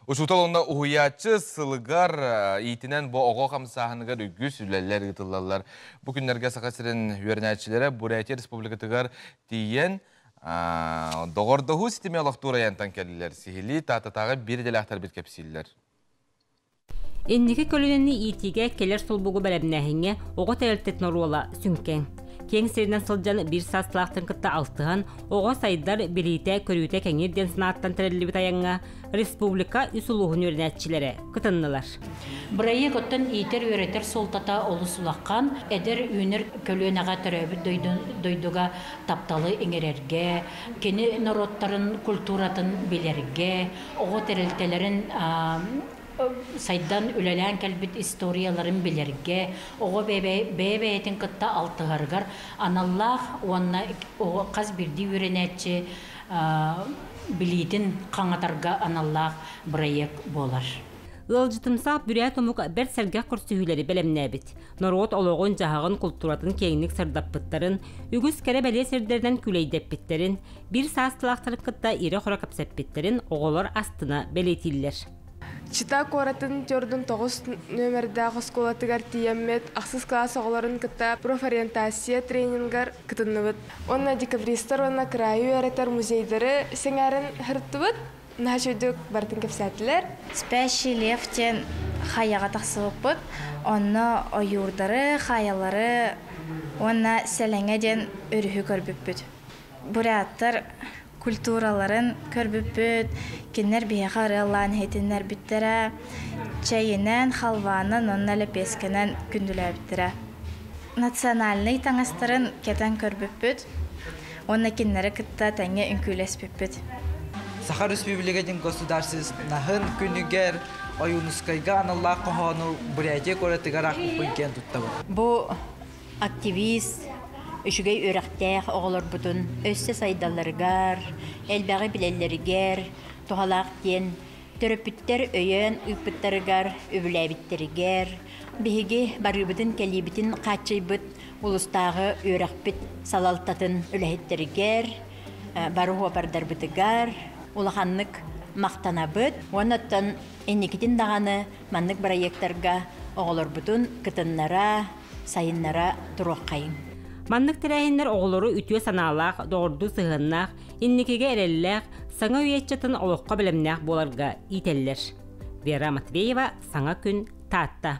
Учуутал уонна уһуйааччы сылыгар э, иитинэн бу оҕо хамсааһыныгар үгүс үлэлэр ыытыллаллар. Бу күннэргэ Саха сирин үөрэнээччилэрэ Бурятия Республикатыгар тиийэн доҕордоһуу ситими олохтуур айантан кэллилэр. Сиһилии Таататааҕы биир идэлээхтэрбит кэпсииллэр. Инники көлүөнэни иитиигэ кэлэр сулбугу бэлэмнээһиҥҥэ оҕо тэрилтэтин оруола сүҥкэн. Киэҥ сиринэн сылдьан биир саастаахтарын кытта алтыһан, оҕо сайдар, билиитэ-көрүүтэ кэҥиир диэн санааттан тэриллибит айаҥҥа республика үс улууһун үөрэнээччилэрэ кытыннылар. Бырайыак оттон иитэр-үөрэтэр суолтата олус улахан. Эдэр үүнэр көлүөнэҕэ төрөөбүт дойдуга тапталы иҥэрэргэ, кини норуоттарын культуратын билэргэ, Оҕо тэрилтэлэрин сайдан үлэлээн кэлбит историяларын билэргэ, оҕо бэйэ-бэйэтин кытта алтыһарыгар аналлаах уонна хас биирдии үөрэнээччи билиитин хаҥатарга аналлаах бырайыак буолар. Ыалдьытымсаах бүрээт омук бэрт сэргэх көрсүһүүлэри бэлэмнээбит. Норуот олоҕун-дьаһаҕын, култууратын киэҥник сырдаппыттарын, үгүс кэрэ-бэлиэ сирдэринэн күлэйдэппиттэрин, Биир саастаахтары кытта ирэ-хоро кэпсэппиттэрин оҕолор астына бэлиэтииллэр. Чита куоратын төрдүн тоҕус нүөмэрдээх оскуолатыгар тиийэммит, ахсыс кылаас оҕолорун кытта профориентация тренингар кытынныбыт. Уонна декабристар уонна кыраайы үөрэтэр музейдары сэҥээрэн сырыттыбыт. Наһаа үчүгэйдик барытын кэпсээтилэр. Спящий лев диэн хайаҕа тахсыбыппыт, онно ойуурдары, хаайалары уонна сэлэҥэ диэн өрүһү көрбүппүт. буряттар культураларын көрбүппүт кинилэр биһиэхэ ырыалаан иһитиннэрбиттэрэ чэйинэн халваанан уонна лэпиэскэнэн күндүлээбиттэрэ национальнай таҥастарын кэтэн көрбүппүт уонна кинилэри кытта тэҥҥэ үҥкүүлэспиппит саха республикатын государственнаһын күнүгэр ойуунускайга аналлаах хоһоону бурятия куоратыгар аахпыппын киэн туттабын бу Активист, үчүгэй үөрэхтээх оҕолорбутун өссө сайдалларыгар, элбэҕи билэллэригэр туһалаах диэн төрөппүттэр өйөөн ыыппыттарыгар, үбүлээбиттэригэр, биһиги барыыбытын-кэлиибитин хааччыйбыт улуустааҕы үөрэхпит салалтатын үлэһиттэригэр, бары уопардарбытыгар улаханнык махтанабыт уонна оттон инникитин даҕаны маннык бырайыактарга оҕолорбутун кытыннара, сайыннара туруоххайыҥ. Маннык тэрээһиннэр оҕолору үтүө санаалаах, доҕордуу сыһыаннаах, инникигэ эрэллээх, саҥа үйэ ыччатын олоххо бэлэмнээх буоларга иитэллэр. Вера Матвеева, Саҥа күн, Таатта.